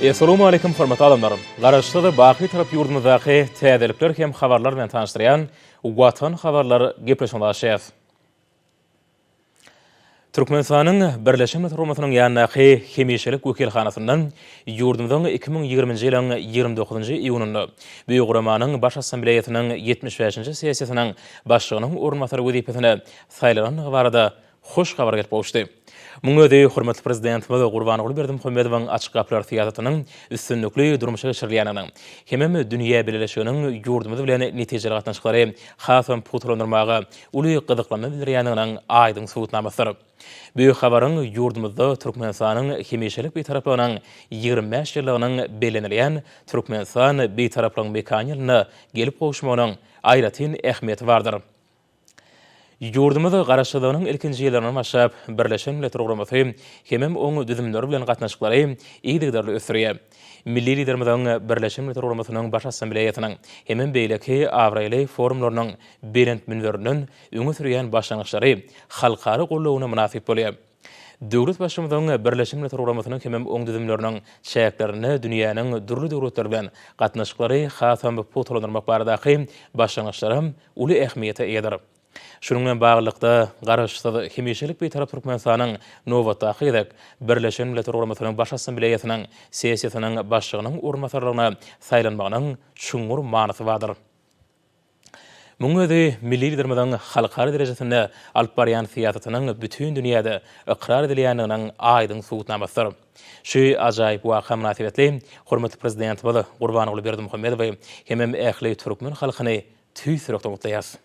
Essalamualeýkum hormatly adamlar! Garaşsyz, baky tarap ýurdumyzdaky täzelikler hem habarlar bilen tanyşdyrýan Watan habarlar gepleşigine başlaýas. Türkmenistanyň Birleşen Milletler Guramasynyň ýanyndaky hemişelik wekilhanasynda ýurdumyzyň iki müň ýigriminji ýylyň ýigrimi dokuzynjy iýunynda bu guramanyň Baş Assambleýasynyň ýetmiş bäşinji sessiýasynyň başlygynyň orunbasary wezipesine saýlanandygy barada hoş habar gelip gowuşdy. Muň özi hormatly Prezidentimiz Gurbanguly Berdimuhamedowyň Açyk gapylar syýasatynyň üstünlikli durmuşa geçirilýändiginiň hemem dünýä bileleşiginiň ýurdumyz bilen netijeli gatnaşyklary hasam pugtalandyrmaga uly gyzyklanma bildirýändiginiň aýdyň subutnamasydyr. Bu habaryň ýurdumyzda Türkmenistanyň hemişelik Bitaraplygynyň ýigrimi bäş ýyllygynyň bellenilýän Türkmenistan Bitaraplygyň mekany ýylynda gelip gowuşmagynyň aýratyn ähmiýeti bardyr. Ýurdumyz Garaşsyzlygynyň ilkinji ýyllaryndan başlap, Birleşen Milletler Guramasy hemem oň düzümleri bilen gatnaşyklary yzygiderli ösdürýär. Milli Liderimiziň Birleşen Milletler Guramasynyň Baş Assambleýasynyň hemem beýleki abraýly forumlarynyň belent münberinden öňe sürýän başlangyçlary halkara goldawyna mynasyp bolýar. Döwletbaşymyzyň Birleşen Milletler Guramasynyň hemem oň düzümleriniň çäklerinde dünýäniň dürli döwletleri bilen gatnaşyklary hasam pugtalandyrmak baradaky başlangyçlaram uly ähmiýete eýedir. Şunuň bilen baglylykda, Garaşsyz, hemişelik Bitarap Türkmenistanyň nobatdaky gezek Birleşen Milletler Guramasynyň Baş Assambleýasynyň sessiýasynyň başlygynyň orunbasarlygyna saýlanmagynyň çuňňur manysy bardyr. Munuň özi milli Liderimiziň halkara derejesinde alyp barýan syýasatynyň bütin dünýäde ykrar edilýändiginiň aýdyň subutnamasydyr. Şu ajaýyp waka mynasybetli hormatly Prezidentimiz Gurbanguly Berdimuhamedowy hemem ähli türkmen halkyny tüýs ýürekden gutlaýarys.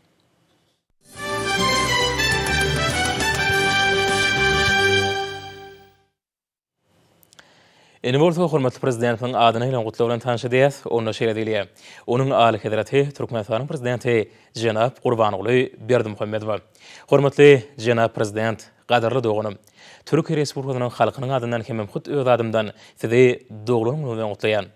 Indi bolsa hormatly Prezidentimiziň adyna gelen gutlag bilen tanyş edýäs. Onda şeýle diýilýär, Onuň Alyhezreti Türkmenistanyň Prezidenti jenap Gurbanguly Berdimuhamedowa. Hormatly jenap Prezident, gadyrly doganym! Türkiýe Respublikasynyň halkynyň adyndan hemem hut öz adymdan Sizi doglan günüňiz bilen gutlaýan.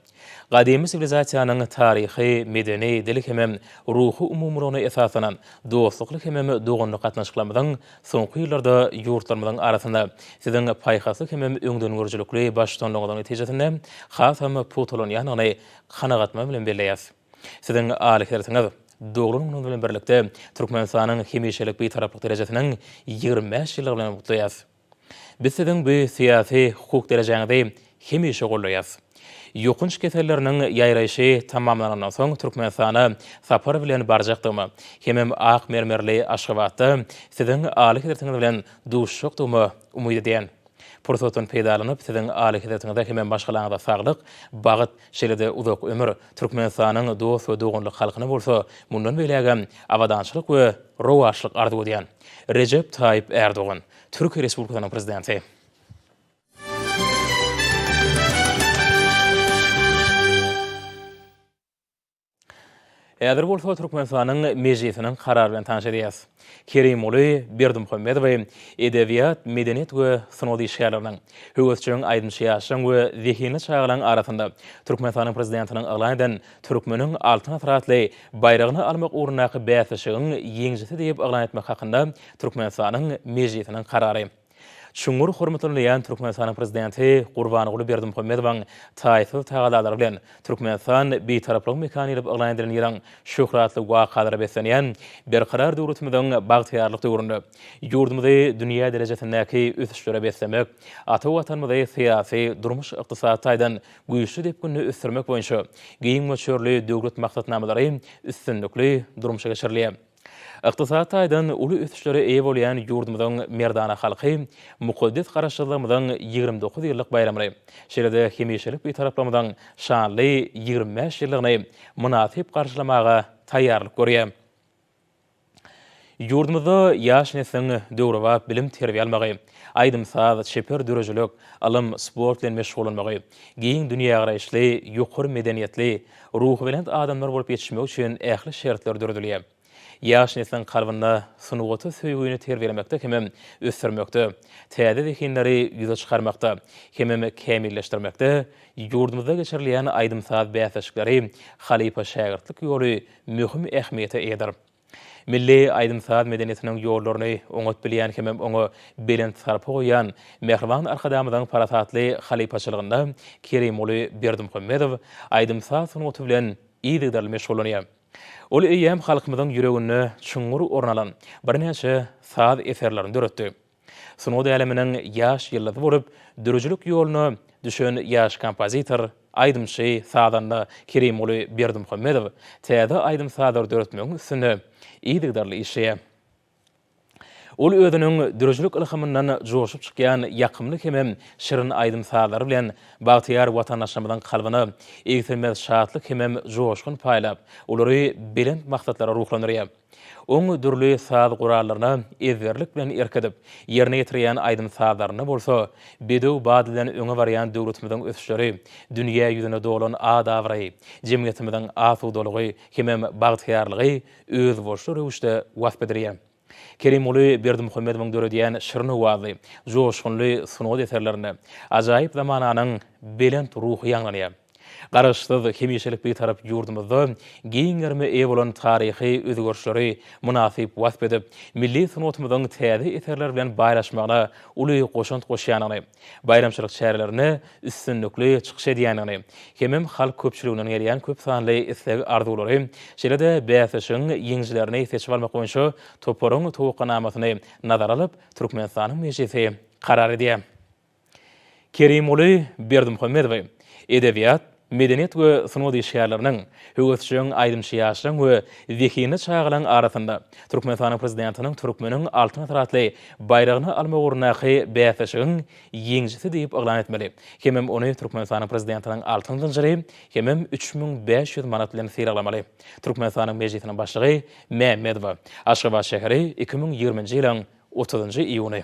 Gadymy siwilizasiýanyň taryhy, medeni, dil hemem ruhy umumylygyna esaslanan dostlukly hemem doganlyk gatnaşyklarymyzyň soňky ýyllarda ýurtlarymyzyň arasynda Siziň paýhasly hemem öňdengörüjilikli baştutanlygyňyzyň netijesinde hasam pugtalanýandygyny kanagatma bilen belleýäs. Siziň aly hersiňiz, doglan günüňiz bilen birlikde Türkmenistanyň hemişelik Bitaraplyk derejesiniň ýigrimi bäş ýyllygy bilen gutlaýas. Biz siziň bu syýasy, hukuk derejäňizi hemişe goldaýas. Ýokanç keselleriniň ýaýraýşy tamamlanandan soň Türkmenistana sapar bilen barjakdygyma hemem ak mermerli Aşgabatda siziň Alyhezretiňiz bilen duşjakdygyma umyt edýän. Pursatdan peýdalanyp, siziň Alyhezretiňize hemem maşgalaňyza saglyk, bagt, şeýle-de uzak ömür, Türkmenistanyň dost we doganlyk halkyna bolsa mundan beýlägem abadançylyk we rowaçlyk arzuw edýän. Rejep Taýyp Ärdogan. Türkiýe Respublikasynyň Prezidenti. Häzir bolsa Türkmenistanyň Mejlisiniň karary bilen tanyş edýäris. Kerimguly Berdimuhamedowy edebiýat, medeniýet we sungat işgärleriniň, höwesjeň aýdymçy ýaşlaryň we zehinli çagalaryň arasynda Türkmenistanyň Prezidentiniň yglan eden Türkmeniň Altyn asyr atly baýragyny almak ugrundaky bäsleşigiň ýeňijisi diýip yglan etmek hakynda Türkmenistanyň Mejlisiniň karary çuňňur hormatlanylýan Türkmenistanyň Prezidenti Gurbanguly Berdimuhamedowyň taýsyz tagallalary bilen Türkmenistan Bitaraplygyň mekany diýlip yglan edilen ýylyň şöhratly wakalara beslenýän Berkarar döwletimiziň bagtyýarlyk döwründe ýurdumyzy dünýä derejesindäki ösüşlere beslemek, ata Watanymyzy syýasy, durmuş-ykdysady taýdan güýçli depginde ösdürmek boýunça giň möçberli döwlet maksatnamalary üstünlikli durmuşa geçirilýär. Ykdysady taýdan uly ösüşlere eýe bolýan ýurdumyzyň merdana halky mukaddes Garaşsyzlygymyzyň ýigrimi dokuz ýyllyk baýramyny, şeýle-de hemişelik Bitaraplygymyzyň şanly ýigrimi bäş ýyllygyny mynasyp garşylamaga taýýarlyk görýär. Ýurdumyzda ýaş nesliň döwrebap bilim-terbiýe almagy, aýdym-saz, çeper döredijilik, ylym, sport bilen meşgullanmagy, giň dünýägaraýyşly, ýokary medeniýetli, ruhubelent adamlar bolup ýetişmegi üçin ähli şertler döredilýär. Ýaş nesliň kalbynda sungata söýgini terbiýelemekde hemem ösdürmekde, täze zehinleri ýüze çykarmakda hemem kämilleşdirmekde ýurdumyzda geçirilýän aýdym-saz bäsleşikleri, halypa-şägirtlik ýoly möhüm ähmiýete eýedir. Milli aýdym-saz medeniýetiniň ýollaryny oňat bilýän hemem oňa belent sarpa goýýan mähriban Arkadagymyzyň parasatly halypaçylygynda Kerimguly Berdimuhamedow aýdym-saz sungaty bilen yzygiderli meşgullanýar. Ol eýýäm halkymyzyň ýüreginde çuňňur orun alan birnäçe saz eserlerini döretdi. Sungat äleminiň ýaş ýyldyzy bolup, dörüjilik ýoluna düşen ýaş kompozitor, aýdymçy, sazanda Kerimguly Berdimuhamedow täze aýdym-sazlar döretmegiň üstünde yzygiderli işleýär. Ol özüniň dörüjilik ylhamyndan joşup çykýan ýakymly hemem şirin aýdym-sazlary bilen bagtyýar watandaşlarymyzyň kalbyna egsilmez şatlyk hemem joşgun paýlap, olary belent maksatlara ruhlandyrýar. Oň dürli saz gurallaryna ezberlik bilen erk edip, ýerine ýetirýän aýdym-sazlarynda bolsa, bedew bady bilen öňe barýan döwletimiziň ösüşleri, dünýä ýüzüne dolan at-abraýy, jemgyýetimiziň asudalygy hemem bagtyýarlygy özboluşly röwüşde wasp edilýär. Kerimguly Berdimuhamedowyň döredýän şirin owazly, joşgunly sungat eserlerinde ajaýyp zamananyň belent ruhy ýaňlanýar. Garaşsyz, hemişelik Bitarap ýurdumyzda giň gerime eýe bolan taryhy özgerişleri mynasyp wasp edip, milli sungatymyzyň täze eserler bilen baýlaşmagyna uly goşant goşýandygyny, baýramçylyk çärelerinde üstünlikli çykyş edýändigini hemem halk köpçüliginden gelýän köp sanly isleg-arzuwlary, şeýle-de bäsleşigiň ýeňijilerini seçip almak boýunça toparyň towakganamasyny nazara alyp, Türkmenistanyň Mejlisi karar edýär. Kerimguly Berdimuhamedowy edebiýat, medeniýet we sungat işgärleriniň, höwesjeň aýdymçy ýaşlaryň we zehinli çagalaryň arasynda Türkmenistanyň Prezidentiniň Türkmeniň Altyn asyry atly baýragyny almak ugrundaky bäsleşigiň ýeňijisi diýip yglan etmeli hemem ony Türkmenistanyň Prezidentiniň altyn zynjyry hemem üç müň bäş ýüz manat bilen sylaglamaly. Türkmenistanyň Mejlisiniň Başlygy Mämmedowa, Aşgabat şäheri, iki müň ýigriminji ýylyň otuzynjy iýuny.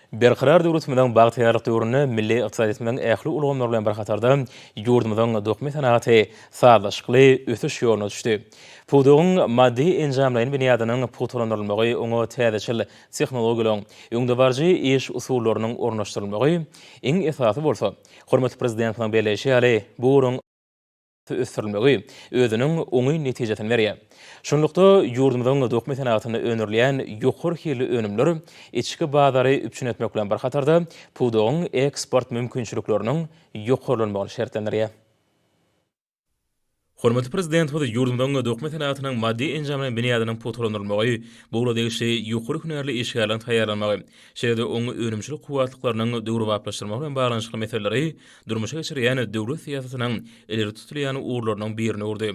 Berkarar döwletimiziň bagtyýarlyk döwründe milli ykdysadyýetimiziň ähli ulgamlary bilen bir hatarda ýurdumyzyň dokma senagaty sazlaşykly ösüş ýoluna düşdi. Pudagyň maddy-enjamlaýyn binýadynyň pugtalandyrylmagy, oňa täzeçil tehnologiýalaryň, öňdebaryjy iş usullarynyň ornaşdyrylmagy, iň esasy bolsa, hormatly Prezidentimiziň belleýşi ýaly, bu ugruň, ösdürilmegi özüniň oňyn netijesini berýär. Şunlukda, ýurdumyzyň dokma senagatynda öndürilýän ýokary hilli önümler içki bazary üpjün etmek bilen bir hatarda, pudagyň eksport mümkinçilikleriniň ýokarlanmagyny şertlendirýär. Hormatly Prezidentimiz ýurdumyzyň dokma senagatynyň maddy-enjamlaýyn binýadynyň pugtalandyrylmagy, bu ugla degişli ýokary hünärli işgärleriň taýýarlanmagy, şeýle-de oňyn önümçilik kuwwatlyklarynyň döwrebaplaşdyrylmagy bilen baglanyşykly meseleleri durmuşa geçirýän döwlet syýasatynyň ileri tutulýan ugurlarynyň birini urdy.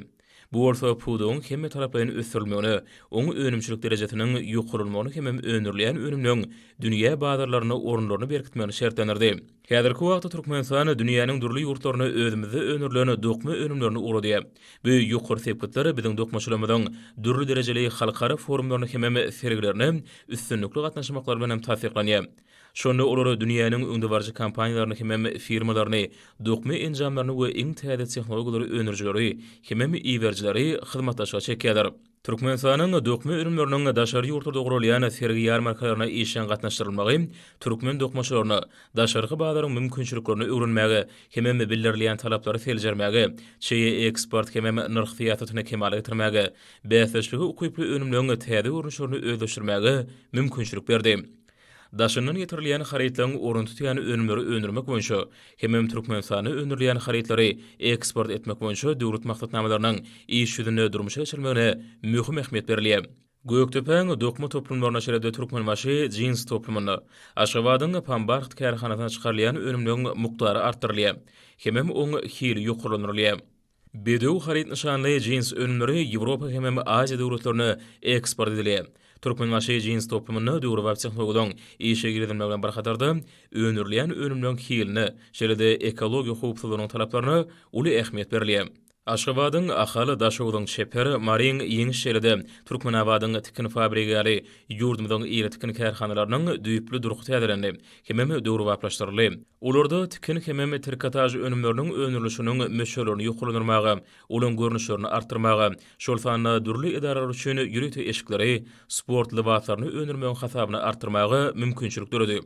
Bu bolsa pudagyň hemmetaraplaýyn ösdürilmegine, oň önümçilik derejesiniň ýokarlanmagyna hemem öndürilýän önümleň dünýä bazarlarynda orunlaryny berkitmegini şertlendirdi. Häzirki wagtda Türkmenistan dünýäniň dürli ýurtlaryna özümizde öndürilen dokma önümlerini ugradýar. Bu ýokary sepgitler biziň dokmaçylarymyzyň dürli derejeli halkara forumlaryna hemem sergilerine üstünlikli gatnaşmaklary bilen hem tassyklanýar. Şonda olar dünýäniň öňdebaryjy kompaniýalaryny hemem firmalaryny, dokma enjamlaryny we iň täze tehnologiýalary öndürijileri hemem iberijileri hyzmatdaşlyga çekýärler. Türkmenistanyň dokma önümleriniň daşary ýurtlarda guralýan sergi-ýarmarkalaryna işjeň gatnaşdyrylmagy türkmen dokmaçylaryna daşarky bazaryň mümkinçiliklerini öwrenmäge hemem bildirilýän talaplary seljermäge, çeýe eksport hemem nyrh syýasatyny kemala getirmäge, bäsdeşlige ukyply önümleň täze görnüşlerini özleşdirmäge mümkinçilik berdi. Daşyndan getirilýän harytlaryň orun tutýan önümleri öndürmek boýunça hemem Türkmenistanda öndürilýän harytlary eksport etmek boýunça döwlet maksatnamalarynyň iş ýüzünde durmuşa geçirilmegine möhüm ähmiýet berilýär. Gökdepäň dokma toplumlaryna şeýle-de Türkmenbaşy jins toplumyna, Aşgabadyň Pambarht kärhanasyna çykarylýan önümleň mukdary artdyrylýar hemem oň hili ýokarlandyrylýar. Bedew haryt nyşanly jins önümleri Ýewropa hemem Aziýa döwletlerine eksport edildi. Türkmenbaşy jins toplumynda döwrebap tehnologiýalaryň işe girizilmegi bilen bir hatarda, öndürilýän önümleriň hiline, şeýle-de ekologiýa howpsuzlygynyň talaplaryna uly ähmiýet berilýär. Aşgabadyň Ahal, Daşogzuň Çeper, Maryň Ýeňiş şeýle-de Türkmenabadyň Tikin fabrigi ýaly ýurdumyzyň iri tikin kärhanalarynyň düýpli durky täzelendi, hemem döwrebaplaşdyryldy. Olarda tikin hemem trikotaž önümleriniň öndürilişiniň möçberlerini ýokarlandyrmaga, olaryň görnüşlerini artdyrmaga, şol sanda dürli edaralar üçin ýörite eşikleri, sport lybaslaryny öndürmegiň hasabyna artdyrmaga mümkinçilik döredi.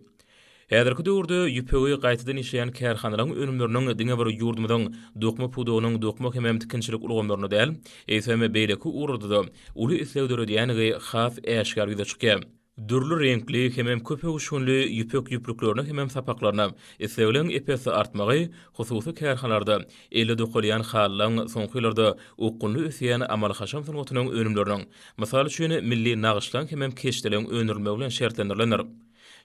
Häzirki döwürde ýüpegi gaýtadan işleýän kärhanalaryň önümleriniň diňe bir ýurdumyzyň dokma pudagynyň dokma hemem tikinçilik ulgamlarynda däl, eýsem, beýleki ugurlarda-da uly isleg döredýändigi has äşgär ýüze çykýar. Dürli reňkli hemem köp öwüşginli ýüpek ýüplüklerine hemem sapaklaryna islegliň ep-esli artmagy hususy kärhalarda elle dokalýan halylaň soňky ýyllarda okgunly ösýän amaly-haşam sungatynyň önümleriniň, mysal üçin, milli nagyşlaň hemem keşdeligiň öndürilmegi bilen şertlendirilendir.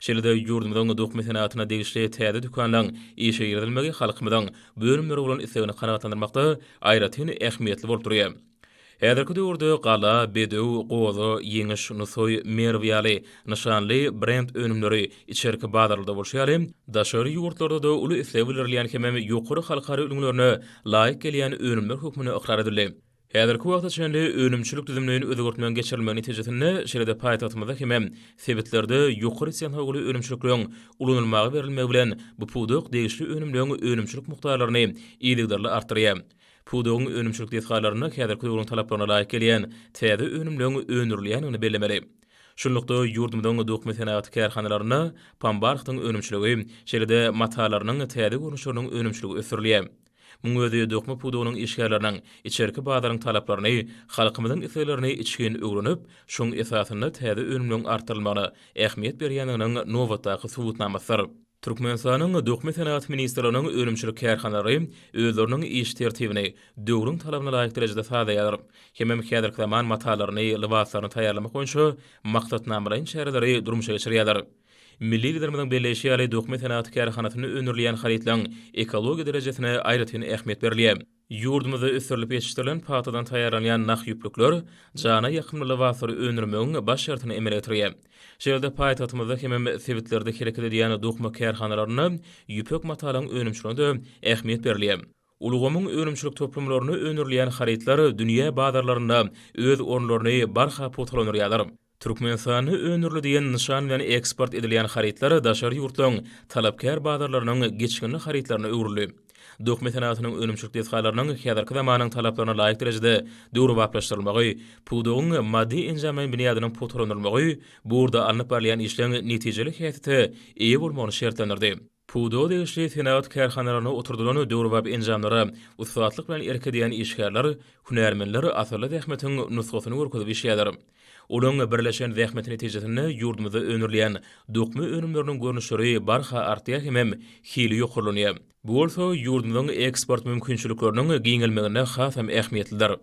Şeýle-de ýurdumyzyň dokma senatyna degişli täze dükanlaň işe girizilmegi halkymyzyň bu önümlere bolan islegini kanagatlandyrmakda aýratyn ähmiýetli bolup durýar. Häzirki döwürde Gala, Bedew, Goza, Ýeňiş, Nusaý, Merw ýaly nyşanly brend önümleri içerki bazarlarda bolşy ýaly, daşary ýurtlarda-da uly isleg bildirilýän hemem ýokary halkara ülňülerine laýyk gelýän önümler hökmünde ykrar edildi. Häzirki wagta çenli önümçilik düzümleýin özgertmegiň geçirilmegi netijesinde, şeýle-de paýtagtymyzda hemem sebitlerde ýokary tehnologly önümçilikleň ulanylmaga berilmegi bilen bu pudak degişli önümleň önümçilik mukdarlaryny yzygiderli artdyrýar. Pudagyň önümçilik desgalarynda häzirki döwrüň talaplaryna laýyk gelýän täze önümleriň öndürilýändigini bellemeli. Şunlukda, ýurdumyzyň dokma senagaty kärhanalarynda pambarhtyň önümçiligi, şeýle-de matalarynyň täze görnüşleriniň önümçiligi ösdürilýär. Muň özi dokma pudagynyň işgärleriniň içerki bazaryň talaplaryny, halkymyzyň isleglerini içgin öwrenip, şoň esasynda täze önümleriň artdyrylmagyna ähmiýet berýändiginiň nobatdaky subutnamasydyr. Türkmenistanyň Dökme senagat ministrliginiň önümçilik kärhanalary özleriniň iş tertibini döwrüň talabyna laýyk derejede sazlaýarlar hemem häzirki zaman matalaryny, lybaslaryny taýýarlamak boýunça maksatnamalaýyn çäreleri durmuşa geçirýärler. Milli Liderimiziň belleýşi ýaly, dökme senagat kärhanasynda öndürilýän harytlaryň ekologiýa derejesine aýratyn ähmiýet berilýär. Ýurdumyzda ösdürilip ýetişdirilen pagtadan taýýarlanýan nah ýüplükler jana ýakymly lybaslary öndürmegiň baş şertini emele getirýär. Şeýle de paýtagtymyzda hemem sebitlerde hereket edýän dokma kärhanalarynda ýüpek matalyň önümçiligine-de ähmiýet berilýär. Ulgamyň önümçilik toplumlarynda öndürilýän harytlar dünýä bazarlarynda öz orunlaryny barha pugtalandyrýarlar. Türkmenistanda öndürli diýen nyşan bilen eksport edilýän harytlar daşary ýurtlaryň talapkär bazarlarynyň geçginli harytlaryna öwrüldi. Dokma senagatynyň önümçilik desgalarynyň häzirki zamanyň talaplaryna laýyk derejede döwrebaplaşdyrylmagy, pudagyň maddy-enjamlaýyn binýadynyň pugtalandyrylmagy bu ugurda alnyp barylýan işleň netijeli häsiýete eýe bolmagyny şertlendirdi. Pudaga degişli senagat kärhanalarynda oturdylan döwrebap enjamlara ussatlyk bilen erk edýän işgärler, hünärmenler asylly zähmetiň nusgasyny görkezip işleýärler. Olaryň birleşen zähmeti netijesinde ýurdumyzda öndürilýän dokma önümleriniň görnüşleri barha artýar hemem hili ýokarlanýar. Bu bolsa ýurdumyzyň eksport mümkinçilikleriniň giňelmeginde hasam ähmiýetlidir.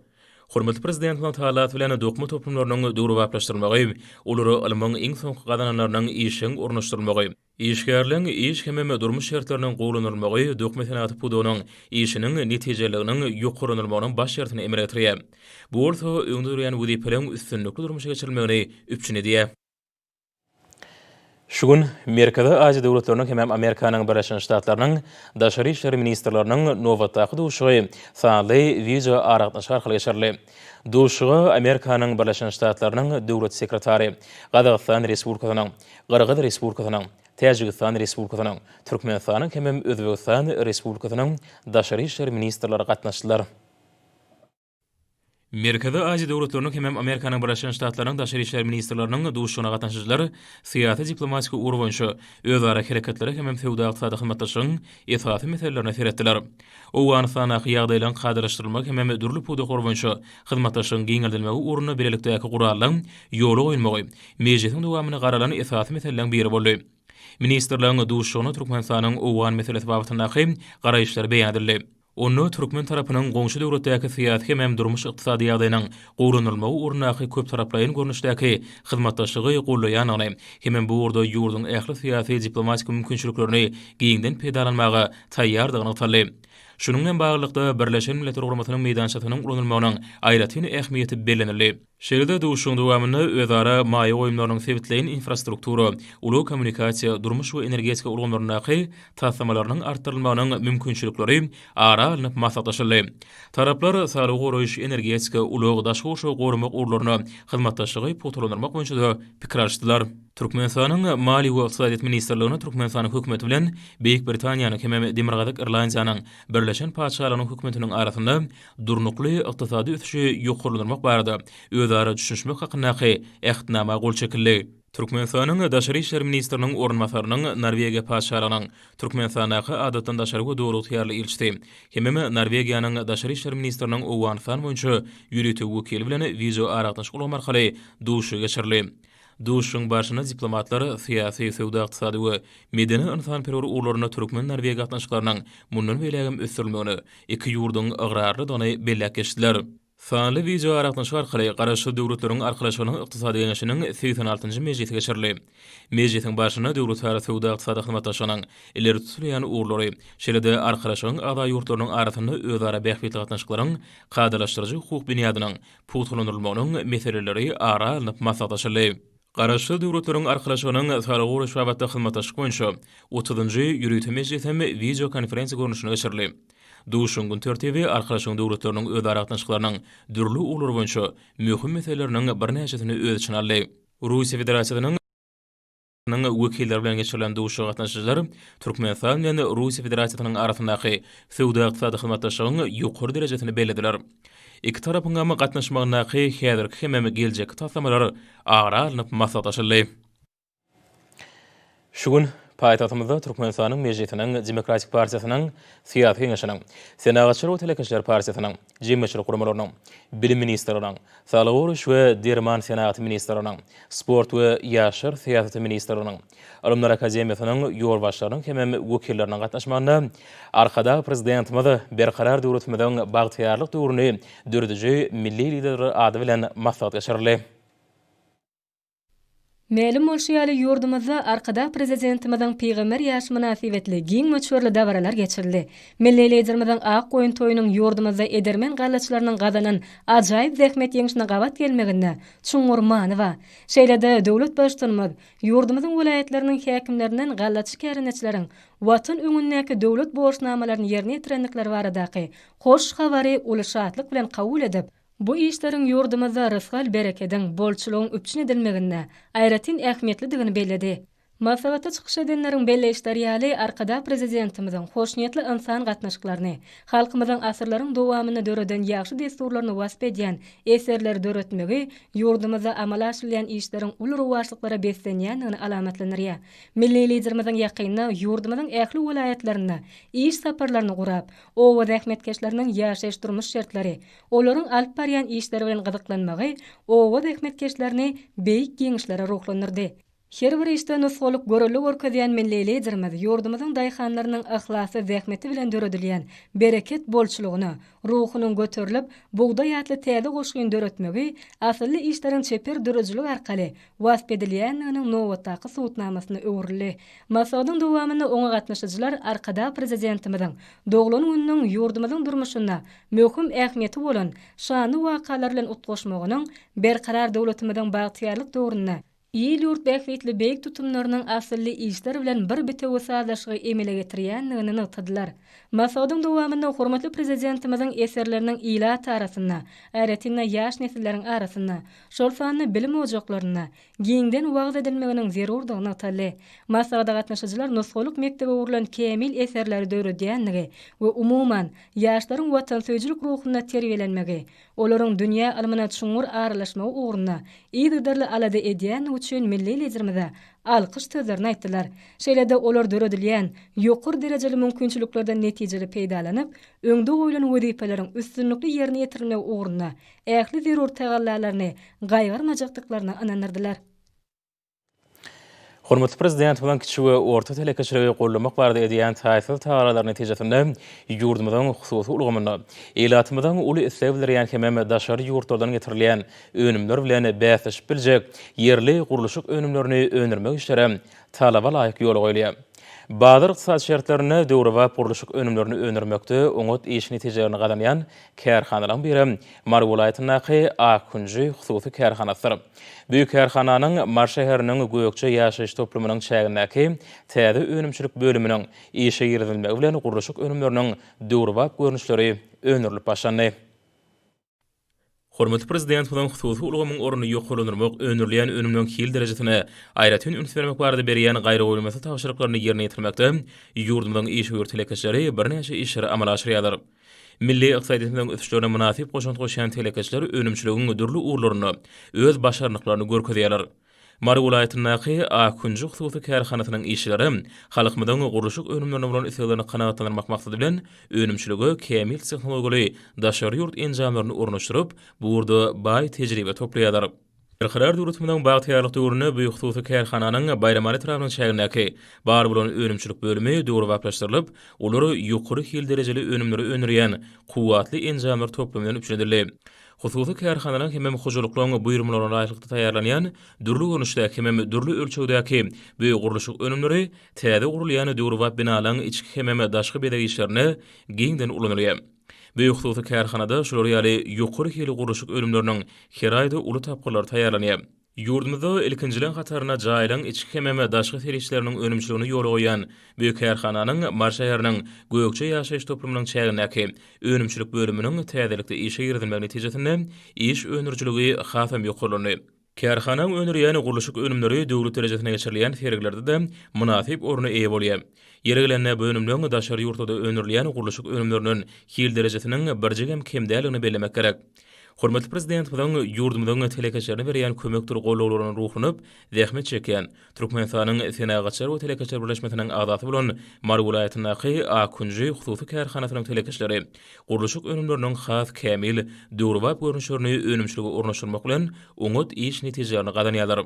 Hormatly Prezidentimiziň talasy bilen dokma toplumlarynyň döwrebaplaşdyrylmagy, olara ylmyň iň soňky gazananlarynyň işjeň ornaşdyrylmagy, Işgärligiň iş hemem durmuş şertleriniň gowulandyrylmagy dökme senagaty pudagynyň işiniň netijeliliginiň ýokarlandyrylmagynyň baş şertini emele getirýär. Bu bolsa öňde durýan wezipeleriň üstünlikli durmuşa geçirilmegini üpjün edýär. Şu gün Merkezi Aziýa döwletleriniň hemem Amerikanyň Birleşen Ştatlarynyň Daşary işler ministrleriniň nobatdaky duşuşygy sanly wideoaragatnaşyk arkaly geçirildi. Duşuşyga Amerikanyň Birleşen Ştatlarynyň Döwlet sekretary, Gazagystan Respublikasynyň, Gyrgyz Respublikasynyň, Täjigistan Respublikasynyň, Türkmenistanyň hemem Özbegistan Respublikasynyň daşary işler ministrleri gatnaşdylar. Merkezi Aziýa döwletleriniň hemem Amerikanyň Birleşen Ştatlarynyň daşary işler ministrleriniň duşuşygyna gatnaşyjylar syýasy-diplomatik ugur boýunça özara hereketlere hemem söwda-ykdysady hyzmatdaşlygyň esasy meselelerine seretdiler. Owganystandaky ýagdaýlaryň kadalaşdyrylmagy hemem dürli pudaklar boýunça hyzmatdaşlygyň giňeldilmegi ugrunda bilelikdäki gurallygyň ýola goýulmagy mejlisiň dowamyny garalan esasy meseleleriň biri boldy. Ministrleriň duşuşygynda Türkmenistanyň owgan meselesi babatyndaky garaýyşlary beýan edildi. Onda türkmen tarapynyň goňşy döwletdäki syýasy hemem durmuş-ykdysady ýagdaýynyň gowulandyrylmagy ugrundaky köptaraplaýyn görnüşdäki hyzmatdaşlygy goldaýandygyny hemem bu ugurda ýurduň ähli syýasy-diplomatik mümkinçiliklerini giňden peýdalanmaga taýýardygy nygtaldy. Şunuň bilen baglylykda, Birleşen Milletler Guramasynyň meýdançasynyň ulanylmagynyň aýratyn ähmiýeti bellenildi. Şeýle-de duşuşygyň dowamynda özara maýa goýumlarynyň sebitleýin infrastruktura, ulag kommunikasiýa, durmuş we energetika ulgamlaryndaky taslamalarynyň artdyrylmagynyň mümkinçilikleri ara alnyp maslahatlaşyldy. Taraplar saglygy goraýyş, energetika, ulag, daşky gurşawy goramak ugurlarynda hyzmatdaşlygy pugtalandyrmak boýunça-da pikir alyşdylar. Türkmenistanyň Maliýe we ykdysadyýet ministrligine Türkmenistanyň Hökümeti bilen Beýik Britaniýanyň hemem Demirgazyk Irlandiýanyň Birleşen Patyşalygynyň Hökümetiniň arasynda Durnukly ykdysady ösüşi ýokarlandyrmak barada özara düşünişmek hakyndaky Ähtnama gol çekildi. Türkmenistanyň Daşary işler ministriniň orunbasarynyň Norwegiýa Patyşalygynyň Türkmenistandaky Adatdan daşary we Döwlagtyýarly ilçisi hemem Norwegiýanyň Daşary işler ministriniň Owganystan boýunça ýörite wekili bilen wideoaragatnaşyk ulgamy arkaly duşuşygy geçirildi. Duşuşygyň barşynda diplomatlar syýasy, söwda-ykdysady we medeni-ynsanperwer ugurlarynda türkmen-norweg gatnaşyklarynyň mundan beýlägem ösdürilmegine iki ýurduň ygrarlydygyny belläp geçdiler. Sanly wideoaragatnaşyk arkaly Garaşsyz Döwletleriň Arkalaşygynyň Ykdysady Geňeşiniň segsen altynjy mejlisi geçirildi. Mejlisiň barşynda döwletara söwda-ykdysady hyzmatdaşlygynyň ileri tutulýan ugurlary, şeýle-de Arkalaşygyň agza ýurtlarynyň arasynda özara bähbitli gatnaşyklaryň kadalaşdyryjy hukuk binýadynyň pugtalandyrylmagynyň meseleleri ara alnyp maslahatlaşyldy. Garaşsyz Döwletleriň Arkalaşygynyň Saglygy goraýyş babatda hyzmatdaşlyk boýunça otuzynjy ýörite mejlisi hem wideokonferensiýa görnüşinde geçirildi. Duşuşygyň gün tertibi Arkalaşygyň döwletleriniň özara gatnaşyklarynyň dürli ugurlary boýunça möhüm meseleleriniň birnäçesini öz içine aldy. Russiýa Federasiýasynyň. nyň wekilleri bilen geçirilen duşuşyga gatnaşyjylar Türkmenistan bilen Russiýa Federasiýasynyň arasyndaky söwda-ykdysady hyzmatdaşlygyň ýokary derejesini bellediler. Iki tarapyňam gatnaşmagyndaky häzirki hemem geljekki taslamalar ara alnyp maslahatlaşyldy. Şu gün paýtagtymyzda Türkmenistanyň Mejlisiniň Demokratik partiýasynyň Syýasy Geňeşiniň, Senagatçylar we telekeçiler partiýasynyň, jemgyýetçilik guramalarynyň, Bilim ministrliginiň, Saglygy goraýyş we derman senagaty ministrliginiň, Sport we ýaşlar syýasaty ministrliginiň, Ylymlar akademiýasynyň ýolbaşçylarynyň hemem wekilleriniň gatnaşmagynda Arkadag Prezidentimiz Berkarar döwletimiziň bagtyýarlyk döwrüni dörediji milli Lider ady bilen maslahat geçirildi. Mälim bolşy ýaly, ýurdumyzda Arkadag Prezidentimiziň pygamber ýaşy mynasybetli giň möçberli dabaralar geçirildi. Milli Liderimiziň Ak goýun toýunyň ýurdumyzda edermen gallaçylarynyň gazanan ajaýyp zähmet ýeňşine gabat gelmeginde çuňňur many ba. Şeýle-de, döwlet Baştutanymyz ýurdumyzyň welaýatlarynyň häkimlerinden gallaçy kärendeçileriň Watan öňündäki döwlet borçnamalaryny ýerine ýetirendikleri baradaky hoş habary uly şatlyk bilen kabul edip, Bu işleriň ýurdumyzda rysgal-berekediň, bolçulygyň üpjün edilmeginde aýratyn ähmiýetlidigini belledi. Maslahatda çykyş edenleriň belleýişleri ýaly, Arkadag Prezidentimiziň hoşniýetli ynsan gatnaşyklaryny, halkymyzyň asyrlaryň dowamynda döreden ýagşy dessurlaryny wasp edýän eserleri döretmegi ýurdumyzda amala aşyrylýan işleriň uly rowaçlyklara beslenýändigini alamatlandyrýar. Milli Liderimiziň ýakynda ýurdumyzyň ähli welaýatlarynda iş saparlaryny gurap, Oba zähmetkeşleriniň ýaşaýyş-durmuş şertleri, olaryň alyp barýan işleri bilen gyzyklanmagy oba zähmetkeşlerini Beýik Ýeňişlere ruhlandyrdy. Her bir işde nusgalyk görelde görkezýän milli Liderimiz ýurdumyzyň daýhanlarynyň yhlasly zähmeti bilen döredilýän bereket bolçulygyna ruhunyň göterilip, bugdaý atly täze goşgyny döretmegi, asylly işleriň çeper döredijilik arkaly wasp edilýändiginiň nobatdaky subutnamasyna öwrüldi. Maslahatyň dowamynda oňa gatnaşyjylar Arkadag Prezidentimiziň doglan gününiň ýurdumyzyň durmuşynda möhüm ähmiýeti bolan şanly wakalar bilen utgaşmagynyň Berkarar döwletimiziň bagtyýarlyk döwründe il-ýurt bähbitli beýik tutumlarynyň asylly işler bilen bir bitewi sazlaşygy emele getirýändigini nygtadylar. Maslahatyň dowamynda hormatly Prezidentimiziň eserleriniň ilat arasynda, aýratyn-da, ýaş nesilleriň arasynda şol sanda bilim ojaklarynda giňden wagyz edilmeginiň zerurdygy nygtaldy. Maslahata gatnaşyjylar nusgalyk mekdebe ugrulan kämil eserleri döredýändigi we umuman, ýaşlaryň watansöýüjilik ruhunda terbiýelenmegi, olaryň dünýä ylmyna çuňňur aralaşmagy ugrunda yzygiderli alada edýändigi üçin milli Liderimize alkyş sözlerini aýtdylar. Şeýle-de olar döredilýän ýokary derejeli mümkinçiliklerden netijeli peýdalanyp, öňde goýlan wezipeleriň üstünlikli ýerine ýetirilmegi ugrunda ähli zerur tagallalaryny gaýgyrmajakdyklaryna ynandyrdylar. Hormatly Prezidentimiziň kiçi we orta telekeçiligi goldamak barada edýän taýsyz tagalalarynyň netijesinde ýurdumyzyň hususy ulgamynda ilatymyzyň uly islegi bildirýän hemem daşary ýurtlardan getirilýän önümler bilen bäsleşip biljek ýerli gurluşyk önümlerini öndürmek işleri talaba laýyk ýola goýulýar. Bazar-ykdysady şertlerinde döwrebap gurluşyk önümlerini öndürmekde oňat iş netijelerini gazanýan kärhanalaryň biri Mary welaýatyndaky Akkunji hususy kärhanasydyr. Bu kärhananyň Mary şäheriniň Gökje ýaşaýyş toplumynyň çägindäki täze önümçilik bölüminiň işe girizilmegi bilen gurluşyk önümleriniň döwrebap görnüşleri öndürilip başlandy. Hormatly Prezidentimiziň hususy ulgamyň ornuny ýokarlandyrmak, öndürilýän önümleriň hil derejesine aýratyn üns bermek barada berýän gaýragoýulmaz tabşyryklaryny ýerine ýetirmekde ýurdumyzyň işewür telekeçileri birnäçe işleri amala aşyrýarlar. Milli ykdysadyýetimiziň ösüşlerine mynasyp goşant goşýan telekeçiler önümçiligiň dürli ugurlarynda öz başarnyklaryny görkezýärler. Mary welaýatyndaky Akkunjy hususy kärhanasynyň işçileri halkymyzyň gurluşyk önümlerine bolan isleglerini kanagatlandyrmak maksady bilen, önümçilige kämil tehnologiýaly daşary ýurt enjamlaryny ornaşdyryp, bu ugurda baý tejribe toplaýarlar. Berkarar döwletimiziň bagtyýarlyk döwründe bu hususy kärhananyň Baýramaly etrabynyň çägindäki bar bolan önümçilik bölümi döwrebaplaşdyrylyp, olar ýokary hil derejeli önümleri öndürýän kuwwatly enjamlar toplumy bilen üpjün edildi. Hususy kärhanalaryň hemem hojalyklaryň buýurmalaryna laýyklykda taýýarlanýan dürli görnüşdäki hemem dürli ölçegdäki bu gurluşyk önümleri täze gurulýan döwrebap binalaryň içki hemem daşky bezeg işlerinde giňden ulanylýar. Bu hususy kärhanada şular ýaly ýokary hilli gurluşyk önümleriniň her aýda uly tapgyrlary taýýarlanýar. Ýurdumyzda ilkinjileň hataryna jaýlaryň içki hemem daşky serişdeleriniň önümçiligini ýola goýan bu kärhananyň Mary şäheriniň Gökje ýaşaýyş toplumynyň çägindäki önümçilik bölüminiň täzelikde işe girizilmegi netijesinde iş öndürijiligi hasam ýokarlandy. Kärhanaň öndürýän gurluşyk önümleri döwlet derejesinde geçirilýän sergilerde-de mynasyp orna eýe bolýar. Ýeri gelende, bu önümleň daşary ýurtlarda öndürilýän gurluşyk önümlerinden hil derejesiniň birjigem kem däldigini bellemek gerek. Hormatly Prezidentimiziň ýurdumyzyň telekeçilerine berýän kömekdir gollawlaryna ruhlanyp, zähmet çekýän, Türkmenistanyň Senagatçylar we telekeçiler birleşmesiniň agzasy bolan Mary welaýatyndaky Akunji hususy kärhanasynyň telekeçileri gurluşyk önümleriniň has kämil, döwrebap görnüşlerini önümçilige ornaşdyrmak bilen, oňat iş netijelerini gazanýarlar.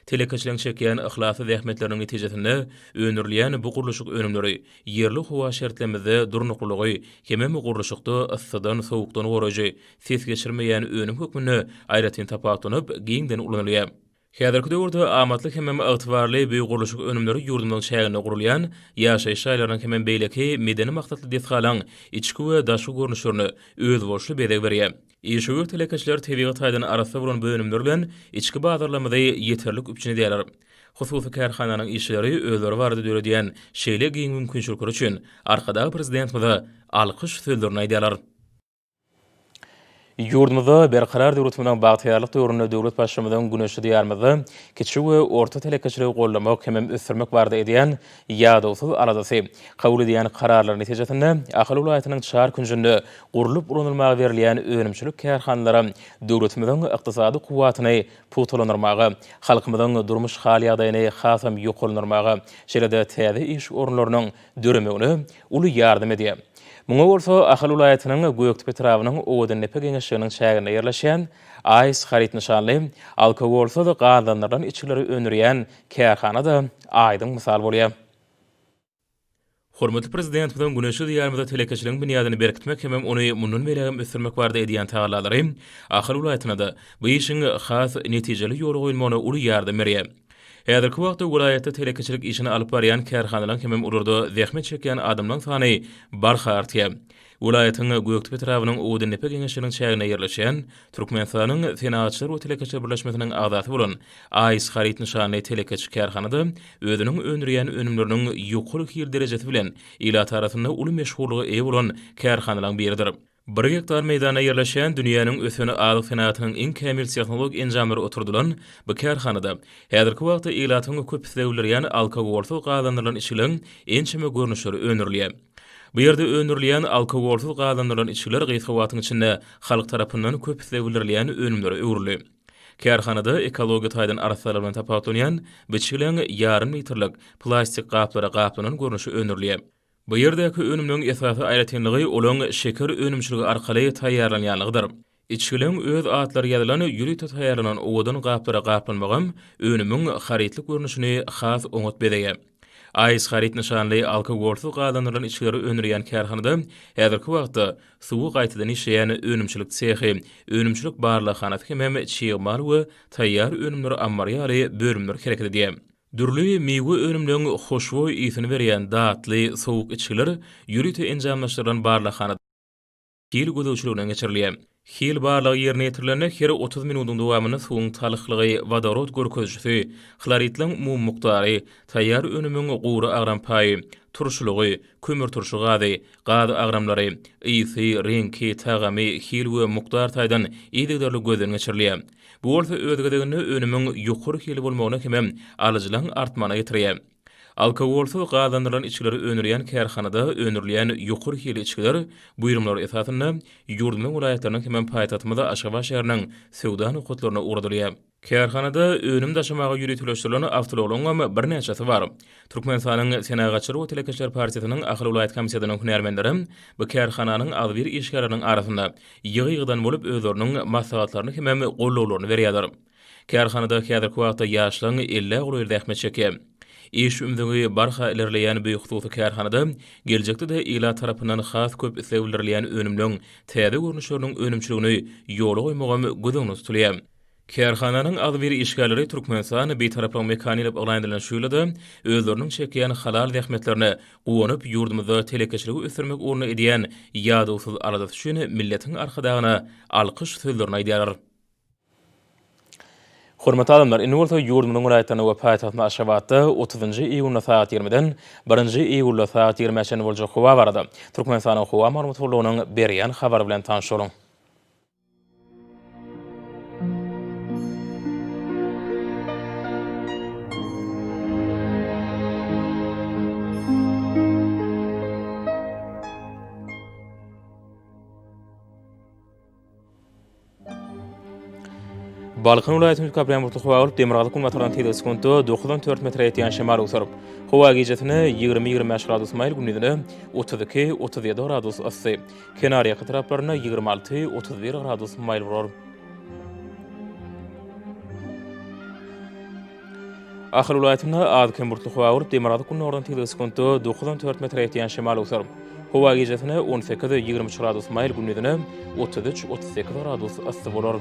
Telekeçiligiň çekýän yhlasly zähmetleriniň netijesinde öndürilýän bu gurluşyk önümleri ýerli howa şertlerimizde durnuklylygy, hemem gurluşykda yssydan, sowukdan goraýjy, ses geçirmeýän önüm hökmünde aýratyn tapawutlanyp, giňden ulanylýar. Häzirki döwürde amatly hemem ygtybarly bu gurluşyk önümleri ýurdumyzyň çäginde gurulýan ýaşaýyş jaýlarynyň hemem beýleki medeni maksatly desgalaryň içki we daşky görnüşlerine özboluşly bezeg berýär. Işewür telekeçiler tebigy taýdan arassa bolan bölümler bilen içki bazarlarymyzy ýeterlik üpjün edýärler. Hususy kärhananyň işçileri özleri barada döredýän şeýle giň mümkinçilikleri üçin Arkadag Prezidentimize alkyş sözlerini aýdýarlar. Ýurdumyzda Berkarar döwletimiziň bagtyýarlyk döwründe döwlet Baştutmyzyň güneşli Diýarymyzda kiçi we orta telekeçiligi goldamak hemem ösdürmek barada edýän Ýadawsyz aladasy, kabul edýän kararlary netijesinde Ahal welaýatynyň çar künjünde gurlup ulanylmaga berilýän önümçilik kärhanalary döwletimiziň ykdysady kuwwatyny pugtalandyrmaga, halkymyzyň durmuş hal-ýagdaýyny hasam ýokarlandyrmaga, şeýle-de täze iş orunlarynyň döremegine uly ýardam edýär. Muňa bolsa Ahal welaýatynyň Gökdepe etrabynyň Owadandepe geňeşliginiň çäginde ýerleşýän AIS haryt nyşanly alkogolsyz gazlandyrylan içgileri öndürýän Kärhana-da aýdyň mysal bolýar. Hormatly Prezidentimiziň güneşli Diýarymyzda telekeçiligiň binýadyny berkitmek hemem ony mundan beýlägem ösdürmek barada edýän tagallalary Ahal welaýatyna-da bu işiň has netijeli ýola goýulmagyna uly ýardam berýär. Häzirki wagtda welaýatda telekeçilik işini alyp barýan kärhanalaryň hemem olarda zähmet çekýän adamlaryň sany barha artýar. Welaýatyň Gökdepe etrabynyň Odundepe geňeşiniň çäginde ýerleşýän, Türkmenistanyň Senagatçylar we telekeçiler birleşmesiniň agzasy bolan AIS Haryt nyşanly telekeçi kärhanada özüniň öndürýän önümleriniň ýokary hil derejesi bilen ilat arasynda uly meşhurlyga eýe bolan kärhanalaryň biridir. Bir gektar meýdanda ýerleşýän dünýäniň ösen azyk senagatynyň iň kämil tehnologik enjamlary oturdylan bu kärhanada häzirki wagtda ilatyň köp isleg bildirýän alkogolsyz gazlandyrylan içgiliň ençeme görnüşleri öndürilýär. Bu ýerde öndürilýän alkogolsyz gazlandyrylan içgiler gysga wagtyň içinde halk tarapyndan köp isleg bildirilýän önümlere öwrüldi. Kärhanada ekologiýa taýdan arassalar bilen tapawutlanýan biçgileň ýarym litrlik plastik gaplara gaplanan görnüşi öndürilýär. Bu ýerdäki önümleň esasy aýratynlygy olaň şeker önümçiligi arkaly taýýarlanýanlygydyr. Içgileriň öz atlary ýazylan ýörite taýýarlanan owadan gaplara gaplanmagam önümiň harytlyk görnüşini has oňat bezeýär. Ice Haryt nyşanly alkogolsyz gazlandyrylan içgileri öndürýän kärhanada häzirki wagtda suwy gaýtadan işleýän önümçilik sehi, önümçilik barlaghanasy hemem çig mal we taýýar önümler ammary ýaly bölümler hereket edýär. Dürli miwe önümleriň hoşboý ysyny berýän datly, sowuk içgiler ýörite enjamlaşdyrylan barlaghanada, hil gözegçiliginden geçirilýär. Hil barlagy ýerine ýetirilende her otuz minudyň dowamynda suwuň talhlygy, wodorod görkezijisi, hloridleriň umumy mukdary, taýýar önümiň gury agram paýy, turşulygy, kömürturşy gazy, gaz agramlary, ysy, reňki, tagamy, hil we mukdar taýdan yzygiderli gözden geçirilýär. Bu bolsa öz gezeginde önümiň ýokary hilli bolmagyna hemem alyjylaryň artmagyna getirýär. Alkogolsyz gazlandyrylan içgileri öndürýän kärhanada öndürilýän ýokary hilli içgiler buýrumlar esasynda ýurdumyzyň welaýatlarynyň hemem paýtagtymyz Aşgabat şäheriniň söwda nokatlaryna ugradylýar. Kärhanada önüm daşamaga ýöriteleşdirilen awtoulaglaryňam birnäçesi bar. Türkmenistanyň Senagatçylar we telekeçiler partiýasynyň Ahal welaýat komitetiniň hünärmenleri bu kärhananyň agzybir işgärleriniň arasynda ýygy-ýygydan bolup özleriniň maslahatlaryny hemem gollawlaryny berýärler. Kärhanada häzirki wagtda ýaşlaryň ellä golaýly zähmet çekýär. Iş ümzügi barha ilerleýän bu hususy kärhanada geljekde-de ilat tarapyndan has köp isleg bildirilýän önümleň täze görnüşleriniň önümçiligini ýola goýmagam göz öňünde tutulýar. Kärhananyň agzybir işgärleri Türkmenistan Bitaraplygyň mekany diýlip yglan edilen şu ýylda-da özleriniň çekýän halal zähmetlerine guwanyp, ýurdumyzda telekeçiligi ösdürmek ugrunda edýän ýadawsyz aladasy üçin milletiň Arkadagyna alkyş sözlerini aýdýarlar. Hormatly adamlar, indi bolsa ýurdumyzyň welaýatlarynda we paýtagtymyz Aşgabatda otuzynjy iýunda sagat ýigrimiden birinji iýulda sagat ýigrimä çenli boljak howa barada Türkmenistanyň howa maglumat gullugynyň berýän habary bilen tanyşalyň. Balkan welaýatynyň Köprän bulutly howa bolup, demirgazyk-günbatardan tizligi sekuntda dokuz on dört metre ýetýän şemal öwsürip, howa gijesi-ne ýigrimi-ýigrimi bäş gradus maýyl, gündizi-ne otuz iki-otuz ýedi gradus yssy, kenarýaka taraplarynda ýigrimi alty-otuz bir gradus maýyl bolar. Ahal welaýatynda az-kem bulutly howa bolup, demirgazyk gündogardan tizligi sekuntda dokuz on dört metre ýetýän şemal öwser. Howa gijesine on sekiz, ýigrimi üç gradus maýyl, gündizine otuz üç, otuz sekiz gradus yssy bolar.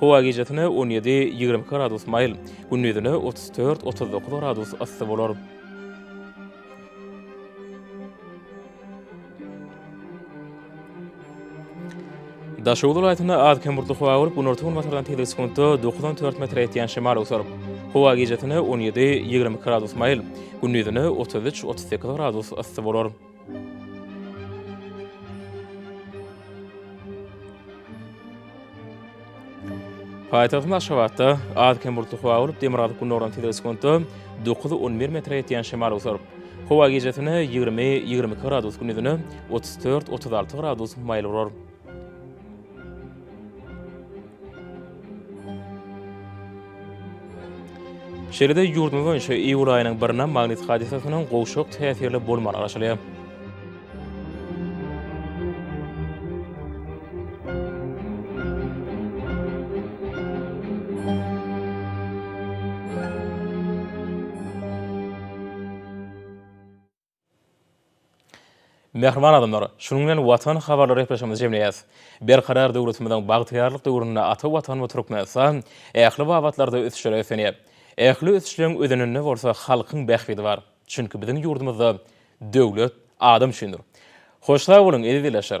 Howa gijesine on ýedi, ýigrimi iki gradus maýyl, gündizine otuz dört, otuz dokuz gradus yssy bolar. Daşoguz welaýatynda az-kem bulutly howa bolup, günorta-günbatardan tizligi sekuntda dokuz on dört metre ýetýän şemal öwser. Howa gijesine on ýedi, ýigrimi iki gradus maýyl, gündizine otuz üç, otuz sekiz gradus yssy bolar. Paýtagtymyz Aşgabatda az-kem bulutly howa bolup, demirgazyk-gündogardan tizligi sekuntda dokuz-on bir metre ýetýän şemal oturyp, howa gijesi ýigrimi, ýigrimi iki gradus, gündizine otuz dört, otuz alty gradus maýyl bolar. Şeýle-de ýurdumyz boýunça iýul aýynyň birine magnit hadysasynyň gowşak täsirli bolmagy garaşylýar. Mähriban adamlar, şunuň bilen Watan habarlary gepleşigimizi jemleýäs. Berkarar döwletimiziň bagtyýarlyk döwründe ata Watanymyz Türkmenistan ähli babatlarda ösüşlere öseniýär. Ähli ösüşleň özeninde bolsa halkyň bähbidi bar. Çünki biziň ýurdumyzda Döwlet adam üçindir. Hoş sag boluň, eziz ildeşler!